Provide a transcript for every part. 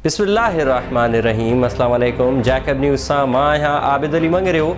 بسم الله الرحمٰن الرحيم السلام عليڪم جيڪب نيوز سان مان آهيان عابد علي مڱريو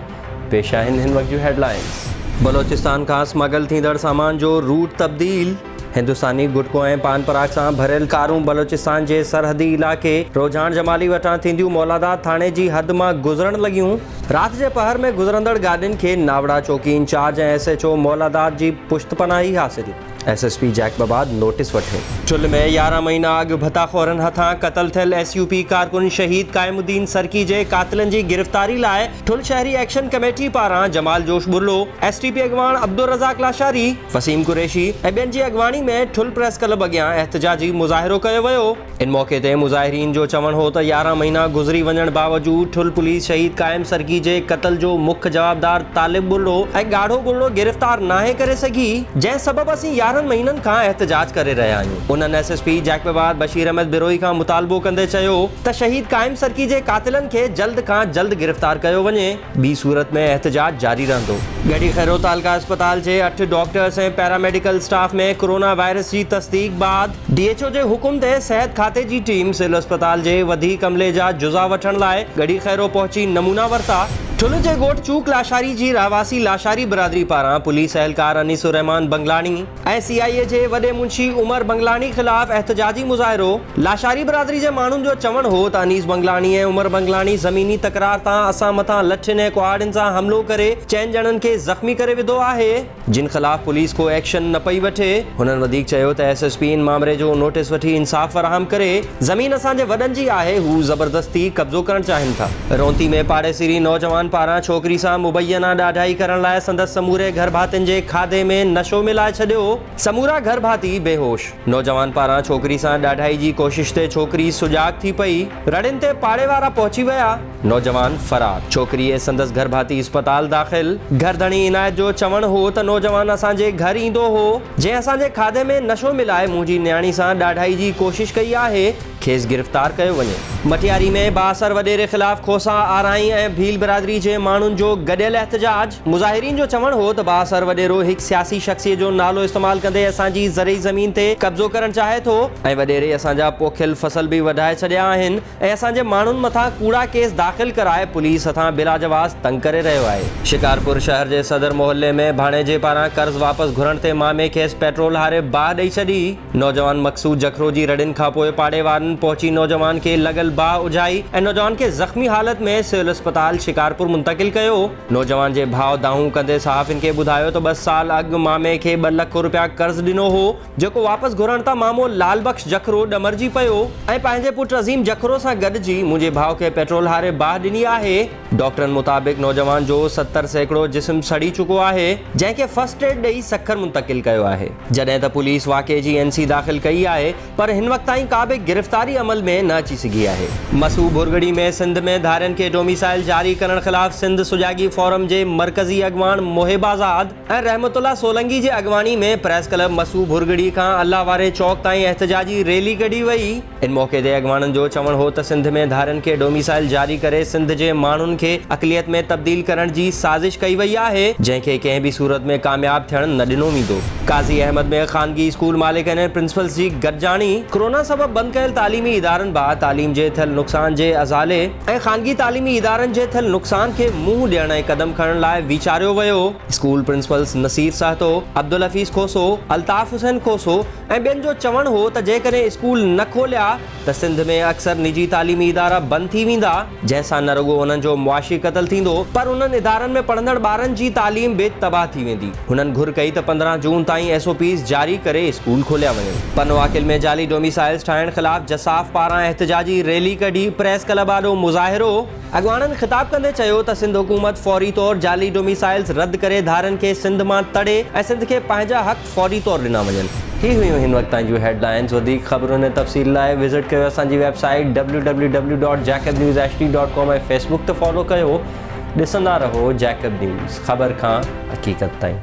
پيش آهن هن وقت جون هيڊلائنز بلوچستان کان اسمگل ٿيندڙ سامان جو روٽ تبديل هندستاني گٽڪو ۽ پان پراگ سان ڀريل ڪارون بلوچستان جي سرحدي علائقي روجهان جمالي وٽان ٿينديون مولاداد ٿاڻي جي حد مان گذرڻ لڳيون، رات جي پهر ۾ گذرندڙ گاڏين کي ناوڙا چوڪي incharge ۽ S H O Moladad جي پشت پناهي حاصل، S S P Jacobabad notice وٺي. چل ۾ يارهن مهينا اڳ ڀتا خورن هٿان قتل ٿيل ايس يو پي ڪارڪن شهيد قائم الدين سرڪي جي قاتلن جي گرفتاري لاء ٺل شهري ايڪشن ڪميٽي پاران جمال جوش ٻرلو، ايس ٽي پي اڳواڻ عبدالرزاق لاشاري، وسيم قريشي ۽ ٻين جي اڳواڻي ۾ ٺل پريس ڪلب اڳيان احتجاجي مظاهرو ڪيو ويو. ان موقعي تي مظاهرين جو چوڻ هو ته يارهن مهينا گذري وڃڻ باوجود ٺل پوليس شهيد قائم سرڪي جي قتل جو مک جوابدار طالب ٻرڙو ۽ ڳاڙهو ٻرڙو گرفتار ناهي ڪري سگهي جنهن سبب اسين يارهن مهينن کان احتجاج ڪري رهيا آهيون انهن S S P Jacobabad Bashir Ahmed Brohi کان مطالبو ڪندي چيو ته شهيد قائم سرڪي جي قاتلن کي جلد کان جلد گرفتار ڪيو وڃي. ٻي صورت ۾ احتجاج جاري رهندو. ڳڙهي خيرو تعلقه اسپتال جي اٺ doctors ۽ paramedical staff ۾ corona virus جي تصديق بعد، ڊي ايڇ او جي حڪم تي صحت کاتي جي ٽيم سول اسپتال جي وڌيڪ عملي جا جزا وٺڻ لاء ڳڙهي خيرو پهچي نمونا ورتا. ٺل جي ڳوٺ چوڪ لاشاري جي رهواسي لاشاري برادري پاران پوليس اهلڪار انيس الرحمان بنگلاڻي، اي سي آء اي جي وڏي منشي عمر بنگلاڻي خلاف احتجاجي مظاهرو، لاشاري برادري جي ماڻهن جو چوڻ هو ته انيس بنگلاڻي ۽ عمر بنگلاڻي زميني تڪرار تان اسان مٿان لٺين ۽ ڪهاڙين سان حملو ڪري چئن ڄڻن کي زخمي ڪري وڌو آهي جن خلاف پوليس ڪو ايڪشن نه پئي وٺي، هنن وڌيڪ چيو ته ايس ايس پي ان معامري جو نوٽيس وٺي انصاف فراهم ڪري. زمين اسان جي وڏن جي آهي، هو زبردستي قبضو ڪرڻ چاهين ٿا. رونتي ۾ پاڙيسري نوجوان پاران ڇوڪري سان مبينا ڏاڍائي ڪرڻ لاء سندس سموري گهر ڀاتين جي کاڌي ۾ نشو ملائي ڇڏيو، سمورا گهر ڀاتي بيهوش، نوجوان پاران ڇوڪري سان ڏاڍائي جي ڪوشش تي ڇوڪري سجاڳ ٿي پئي، رڙين تي پاڙي وارا پهچي ويا. نوجوان فرار، ڇوڪري ۽ سندس گهرڀاتي اسپتال داخل، گهرڌڻي عنايت جو چوڻ هو ته نوجوان اسان جي گهر ايندو هو، جنهن اسان جي کاڌي ۾ نشو ملائي منهنجي نياڻي سان ڏاڍائي جي ڪوشش ڪئي آهي، کيس گرفتار ڪيو وڃي. مٽياري ۾ بااثر وڏيري خلاف کوسا، آرائين ۽ ڀيل برادري جي ماڻهن جو گڏيل احتجاج، مظاهرين جو چوڻ هو ته بااثر وڏيرو هڪ سياسي شخصيت جو نالو استعمال ڪندي اسان جي زرعي زمين تي قبضو ڪرڻ چاهي ٿو، ۽ وڏيري اسان جا پوکيل فصل به وڍائي ڇڏيا آهن، ۽ اسان جي ماڻهن مٿان ڪوڙا ڪيس داخل ڪرائي پوليس هٿان بلاجواز تنگ ڪري رهيو آهي. شڪارپور شهر جي صدر محلي ۾ ڀاڻيجي پاران قرض واپس گهرڻ تي مامي کيس پيٽرول هاري باهه ڏئي ڇڏي، نوجوان مقصود جکرو جي رڙين کانپوء پاڙي وارن پهچي نوجوان کي لڳل باهه اجهائي ۽ نوجوان کي زخمي حالت ۾ سول اسپتال شڪارپور منتقل ڪيو. نوجوان جي ڀاء دانهون ڪندي صحافين کي ٻڌايو ته ٻه سال اڳ مامي کي ٻه لک روپيا قرض ڏنو هو، جيڪو واپس گهرڻ تان مامو لعل بخش جکرو ڏمرجي پيو ۽ پنهنجي پٽ عظيم جکرو سان گڏجي منهنجي ڀاء کي پيٽرول هاري باهه ڏني آهي. ڊاڪٽرن مطابق نوجوان جو ستر سيڪڙو جسم سڙي چڪو آهي، جنهن کي فرسٽ ايڊ ڏئي سکر منتقل ڪيو آهي، جڏهن ته پوليس واقعي جي اين سي داخل ڪئي آهي، پر هن وقت تائين ڪا به گرفتاري عمل ۾ نه اچي سگهي آهي. مسو ڀرڳڙي ۾ سنڌ ۾ ڌارين کي ڊوميسائل جاري ڪرڻ خلاف سنڌ سجاڳي فورم جي مرڪزي اڳواڻ محب آزاد، ۽ رحمت الله سولنگي جي اڳواڻي ۾ پريس ڪلب مسو ڀرڳڙي کان الله واري چوڪ تائين احتجاجي ريلي ڪڍي وئي. ان موقعي تي اڳواڻن جو چوڻ هو ته سنڌ ۾ ڌارين کي ڊوميسائل جاري ڪري سنڌ جي ماڻهن کي اقليت ۾ تبديل ڪرڻ جي سازش ڪئي وئي آهي جنهن کي ڪنهن به صورت ۾ ڪامياب ٿيڻ نه ڏنو ويندو. قاضي احمد ۾ خانگي اسڪول مالڪن ۽ پرنسپلز جي گڏجاڻي. ڪرونا سبب بند ڪيل تعليمي ادارن بعد تعليم جي ٿيل نقصان جي ازالي. ۽ خانگي تعليمي ادارن جي ٿيل نقصان کي منهن ڏيڻ ۽ قدم کڻڻ لاء ويچاريو ويو. اسڪول پرنسپلز نصير سهتو، عبدالحفيظ کوسو، الطاف حسين کوسو ۽ ٻين جو چوڻ هو ته جيڪڏهن اسڪول نه کوليا ته سنڌ ۾ اڪثر نجي تعليمي ادارا بند ٿي ويندا، جنهن سان نه رڳو انهن جو معاشي قتل ٿيندو پر انهن ادارن ۾ پڙهندڙ ٻارن جي تعليم به تباهه ٿي ويندي. هنن گهر ڪئي ته پندرهن جون تائين ايس او پيز جاري ڪري اسڪول کوليا وڃن. پنواڪل ۾ جعلي ڊوميسائلز ٺاهڻ خلاف جساف پاران احتجاجي ريلي ڪڍي پريس ڪلب آڏو مظاهرو. اڳواڻن خطاب ڪندي چيو ته سنڌ حڪومت فوري طور جعلي ڊوميسائلز رد ڪري ڌارين کي سنڌ مان تڙي ۽ سنڌ کي پنهنجا حق فوري طور ڏنا وڃن. هي هيون هن وقت تائين جون هيڊ لائنز وڌيڪ خبرن ۽ تفصيل لاء وزٽ ڪيو اسان جي website W W W dot Jacob news H D dot com ۽ Facebook تي فالو ڪيو. ڏسندا رهو جيڪب نيوز، خبر کان حقيقت تائين.